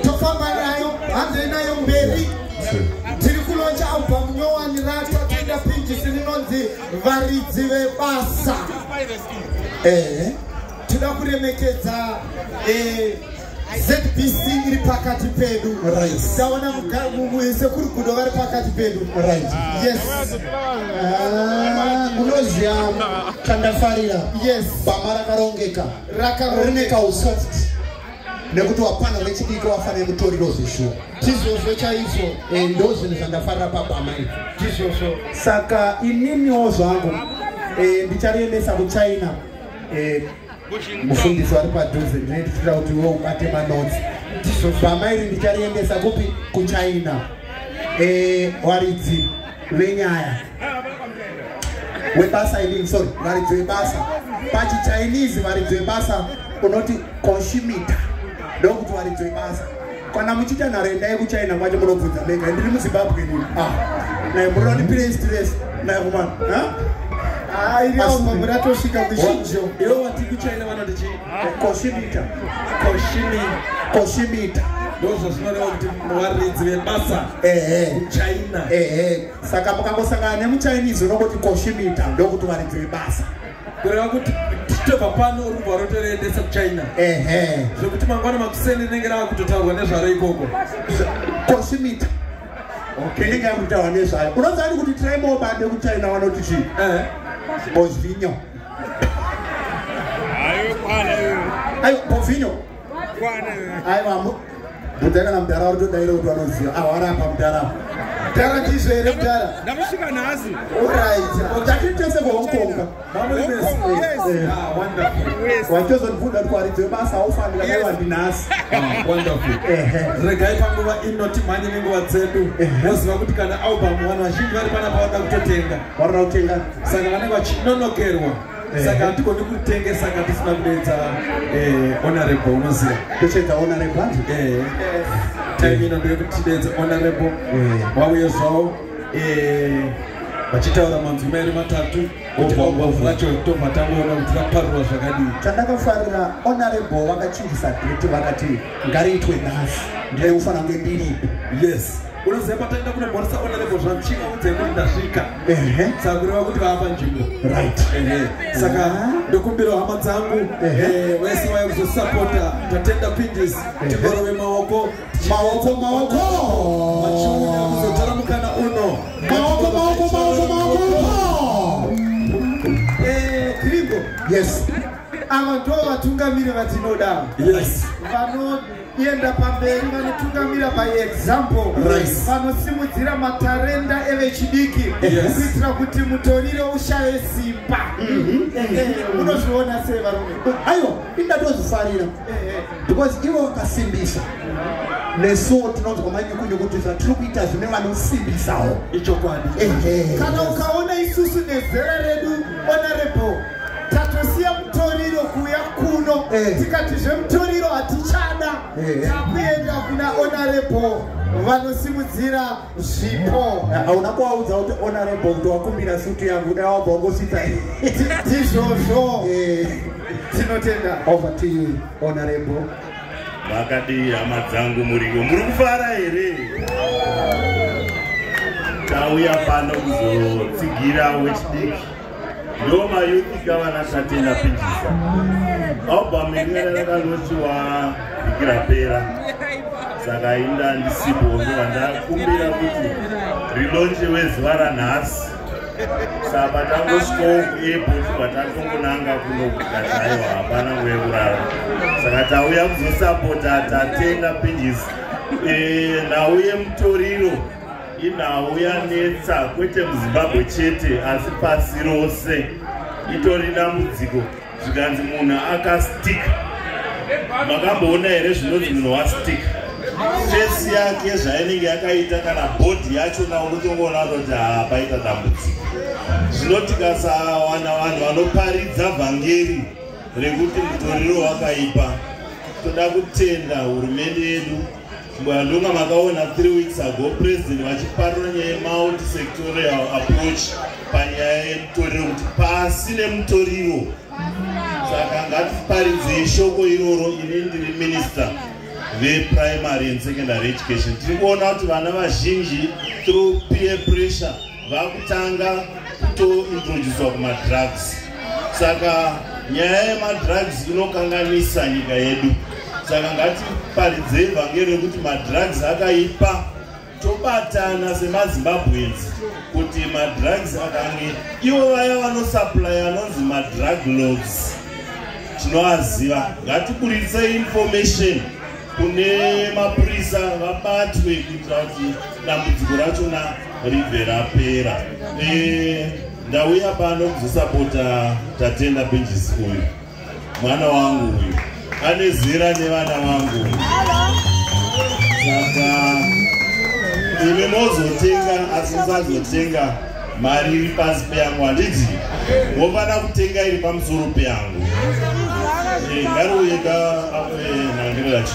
tofamba nayo hanzi nayo mberi tiri kulonja album nyowani ratwa tiida pinjisi rinonzi varidzi vebasa ehe tinoda kuremekedza eh, zbc iri pakati pedu taona sekuri gudo vari pakati pedu yes ah, unoziva chandafarira yes bama rakarongeka rine kausoft nekuti wapana vechidiki wafane mutoriro zvishuwa tizvozvo chaizvo eh, ndo zvinhu zvandafarira pabhama izvo tizvozvo saka ininiwo zvangu eh, ndichariendesa kuchina eh, mufundisi wari padhuze ndinetitira kuti iwe ubate manotsi bhama iri ndichariendesa kupi kuchina waridzi venyaya webasa inini sorry varidzo yebasa pachichinese varidzo yebasa unoti consumitor ndokuti varidzo yebasa kana muchiita nharo endai kuchina kwacho munobvunza mega ndiri muzimbabwe nini ah, naye muroda ndi pire stress naye kumana muratosvika kuchinjo iwo wati kuchina vanoti chii consumitor consumitor ndozvazvinorewa kuti varidzi vebasa kuchina saka mukangosangana nemuchinese unongoti koshimita ndokuti waridzire basa kureva kuti tichitobva pano uri kubva rotoreendesa kuchina ehe zvekuti mangwana makuseni rinenge rava kutotaurwa nezvaro ikoko koshimita inenge yava kutaurwa nezvayo unoziva ni kuti traimo bade kuchina vanoti chii eh. bozvinyo ayo bovinyo aiwa mudhara kana mudhara wari todaira kuti vanoziva awari apa mudhara mudhara ndizvo here mudhara ndamusvika nhasi orit takitese kuhong kong watozonibvunda kuti waridze basa aufanira naiwandi nhasi regai panguva ino timhanye nenguva dzedu moziva kuti kana album vanhu vazhinji vari panapa vada kutotenga varira kutenga saka vanenge vachinonokerwa saka hatigoni kutenge saka tisina kudeedza eh, honorable unoziva tochedza honorable anzi eh, time ino ndeye kuti tideedze honorable vauye eh. zvavo vachitaura manzwi mairi matatu ovavu vacho tobva tangoona kuti vaparurwa zvakadii chandakafarira honorable vakachinjisa date vakati ngariitwe nhasi ndaiufanira kunge ndiripo yes unoziva pataenda kunomhoresa ona levo zvanchika udzai kuti ndasvika saka kureva kuti vava panzvimbo right saka ndokumbira hama dzangu eh, vese vaya kuzosapota tatenda pindis tikorove maoko maoko maoko machiuya kuzotora mukana uno maoko maoko maoko maoko eh, krigo yes ava ndo vatungamiri vatinoda yes vano kuenda pamberi vanotungamira by example vanosimudzira right. matarenda evechidiki yes. kuitira kuti mutoriro ushaye simba unozviona mhm. eh, eh, sei varume aiwa indatozvifarira eh, because ivo vakasimbisa nesuwo tinonzwa manyukunyukutiza tiri kuita zvine vanosimbisawo ichokwadi kana ukaona isusu nezera redu honorable tatosiya mutoriro kuuya kuno eh. tikati zvemutoriro hatichada eh. takuenda kuna honorable vanosimudzira zvipo eh, hauna kuvaudza kuti honorable kuti wakumbira sutu yangu dai wabva wangosvitsa ndizvozvo tinotenda over to you honorable vakadii hama dzangu muriwo muri kufara here tauya pano kuzotsigira wechidiki ndo mayuthi gavana tatenda pinjisa album inererakanoti waikira pera saka inda ndisipo ndiva ndakumbira kuti rilonje wezuva ranhasi saka tangosvikawo kuairport kwatangongonanga kunogugadzaiwa hapana wekurara saka tauya kuzosapota tatenda pinjisa eh, nhau yemutoriro inhau yanetsa kwete muzimbabwe chete asi pasi rose itori dambudziko zvikanzi munhu akastika makamboona here zvinonzi munhu wastika fesi yake zvainenge yakaita kana bhodhi yachona unotongoona kuti haa paita dambudziko zvino tikasawana vanhu vanoparidza vhangeri rekuti mutoriro wakaipa toda kutenda hurumende yedu Mbwandunga makaona 3 weeks ago president vachiparura nyaya yemultisectorial approach panyaya yemutoriro kuti pasi nemutoriro saka ngatiparidzei shoko iroro ini ndiri minister veprimary and secondary education tiri kuona kuti vana vazhinji through peer pressure vakutanga kutointroducwa kumadrugs saka nyaya yemadrugs inokanganisa nyika yedu saka ngatiparidzei vhangeri rekuti madrugs akaipa tobatana semazimbabweans kuti madrugs akange ivo vaya vanosuplya anonzi madrug lods tinoaziva ngatiburitse information kune mapurisa vabatwe kuitira kuti dambudziko rachona ribve rapera eh, ndauya pano kuzosapota tatenda benjis uyu mwana wangu uyu ane zera nevana vangu saka imi mozotenga asi musazotenga mari iri pasi peyangu handiti wofana kutenga iri pamusoro peyangu eh, ngarouye ka eh, nangiro yacho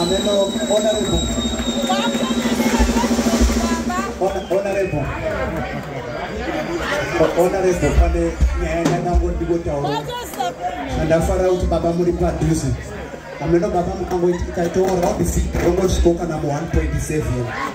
Ameno honorable. Honorable. Honorable pane nyaya yandango ndikotaura. Ndafara kuti baba muri padhuze. Ameno baba mukangoita itaitoora wabisi rongo zviko kana mu 1.7.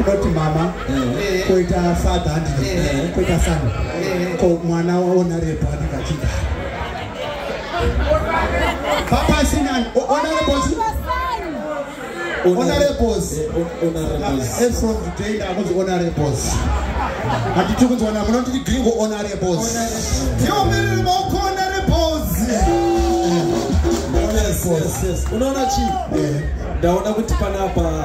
unoti mama eh. koita father handiti eh. koita son eh. ko mwana waona repo handiti achida papa sinan ona repos ona repos and from today ndakunzi ona repos handiti kunzwana munoti gringo ona repos tiomerere maoko ona repos unoona chii ndaona kuti panapa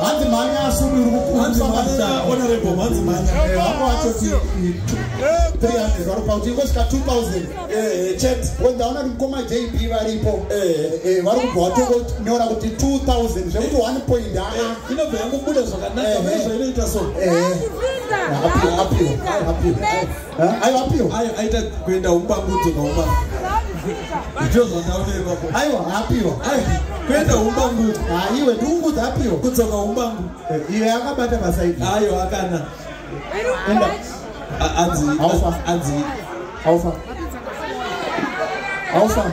hanzi mhanya asumi uri kukuhanzimaanya honorable hanzi mhanya vako vatoti 300 varopa kuti ingosvika 2000 chet ndaona kuti mukoma jb varipo vari kubva vatongonyora kuti 2000 zvekuti 1 point aa inobva yangobuda zvakanaka izvo inoita so apiwa apiwa apiwa Eh, aiwa apio aita kuenda umbangudzo nauma ndizvo zvandaoneva aiwa apio kuenda umbangudzo aiwe ndiungudzo apio kudzoka umbangu eh, iye akabata basa ii ayo akana enda anzi aufa anzi aufa aufa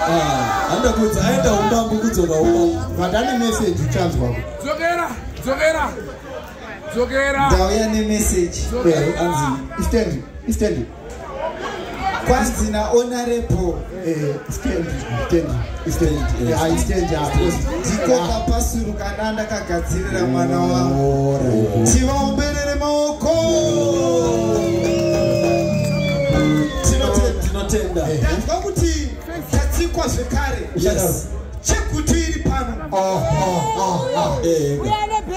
ah, handa kudza aenda umbangu kudzoka umbangu vadane message uchanzwa dzokera dzokera ndauya nemessage anzi istendi istendi kwanzi naonarepo ndikoka pasuru kana ndakagadzirira mwana wangu tivaomberere maoko tinotenda tinotenda tanzwa kuti yatsikwa zvekare yes chegutu iri pano ah, ah, ah, eh, eh.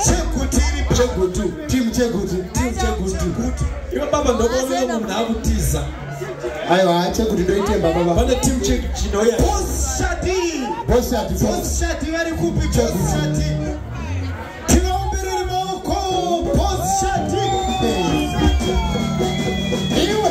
chegutu iri chegutu tim chegutu tim chegutu iwe baba ndokuona munhu akutiza aiwa chegutu ndoitemba baba pane tim chinoya boshati boshati boshati vari kupi boshati tinombiriri maoko boshati iwe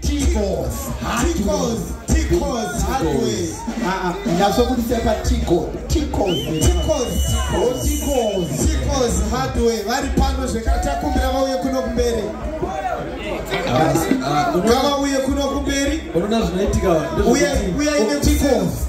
Ticos. Ticos. Ticos. Hardware. Ah ah. Nyatso kuti sepa Tico. Ticos. Ticos. Ticos. Ticos hardware. Vari pano zvekata kumbira vauye kuno kumberi. Ngava uye kuno kumberi. Unoona zvinoitika. Uye uye ine Ticos.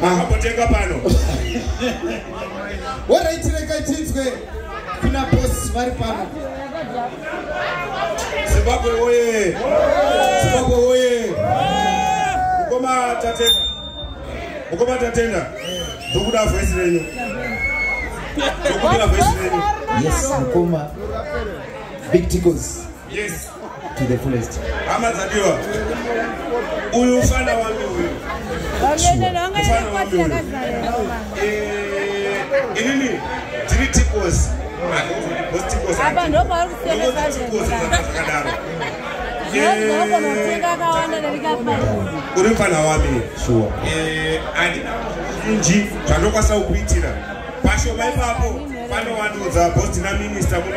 Makambotenga pano. Alright, rega tinzwe kuna boss vari pano. Zimbabwe woye. Zimbabwe woye. Mukoma tatenda. Mukoma tatenda. Ndokuda voice renyu. Ndokuda voice renyu. Yes, mukoma. Big tickles. Yes. To the fullest. Hama dzadiwa. Uyu ufana wangu uyu. Ufana wangu uyu. Eh, inini tiri tikos. Apa ndo pauri kusemesa zvakadaro. Uri mfana wami. Sure. Eh, and nji zvandokwanisa kukuitira. Pasho maipapo. Pano wanudza boss na minister muno.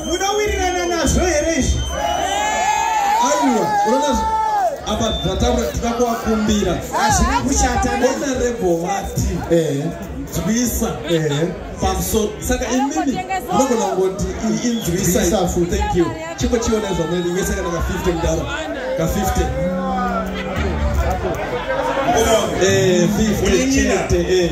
munowirirana nazvo here izvi aiwa unoona apa zvataura tida kuvakumbira hazvina kushata bona rebho vati eh. nzwisa eh. pamusoro saka imimi unogona kungoti inzwisa fu thank you chimbo chiona zvamwene inge saka naka 50 mudaro ka 50 50 eh, chete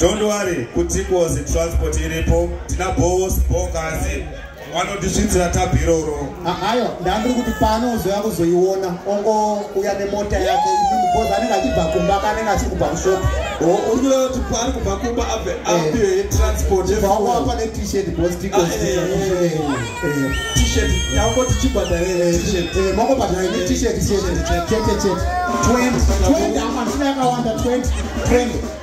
Don't worry, kutikozi transport iripo, tina boss, bokazi, wanotisvitsira tabiroro. Ayo, ndandiri kuti pano uzoya kuzoiona, ongo uya nemota yake, because anenge achibva kumba kanenge achiri kubva kushop. Oh, uri kuda kuti paari kubva kumba abve eh. apiwe transport. Zvawako apa ne t-shirt boss tikozi. Ah, eh, eh, t-shirt, yako tichibhadhare t-shirt. Eh, mako bhadhare ne t-shirt, t-shirt, chete chete. 20, 20, amashina yakawanda 20, 20.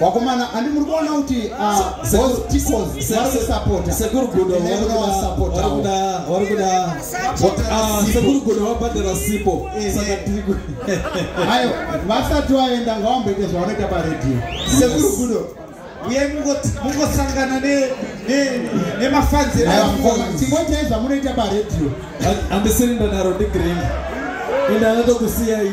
vakomana handi muri kuona kuti sekuru gudo vabhadhara sipo eh, eh. saka tiri ayo vasati vaenda ngavamboite zvavanoita paredhiyo sekuru gudo uye mungosangana nemafanzi tingoitai zvamunoita paredhiyo andisiri ndanaro ndigreen ende anotokusiyai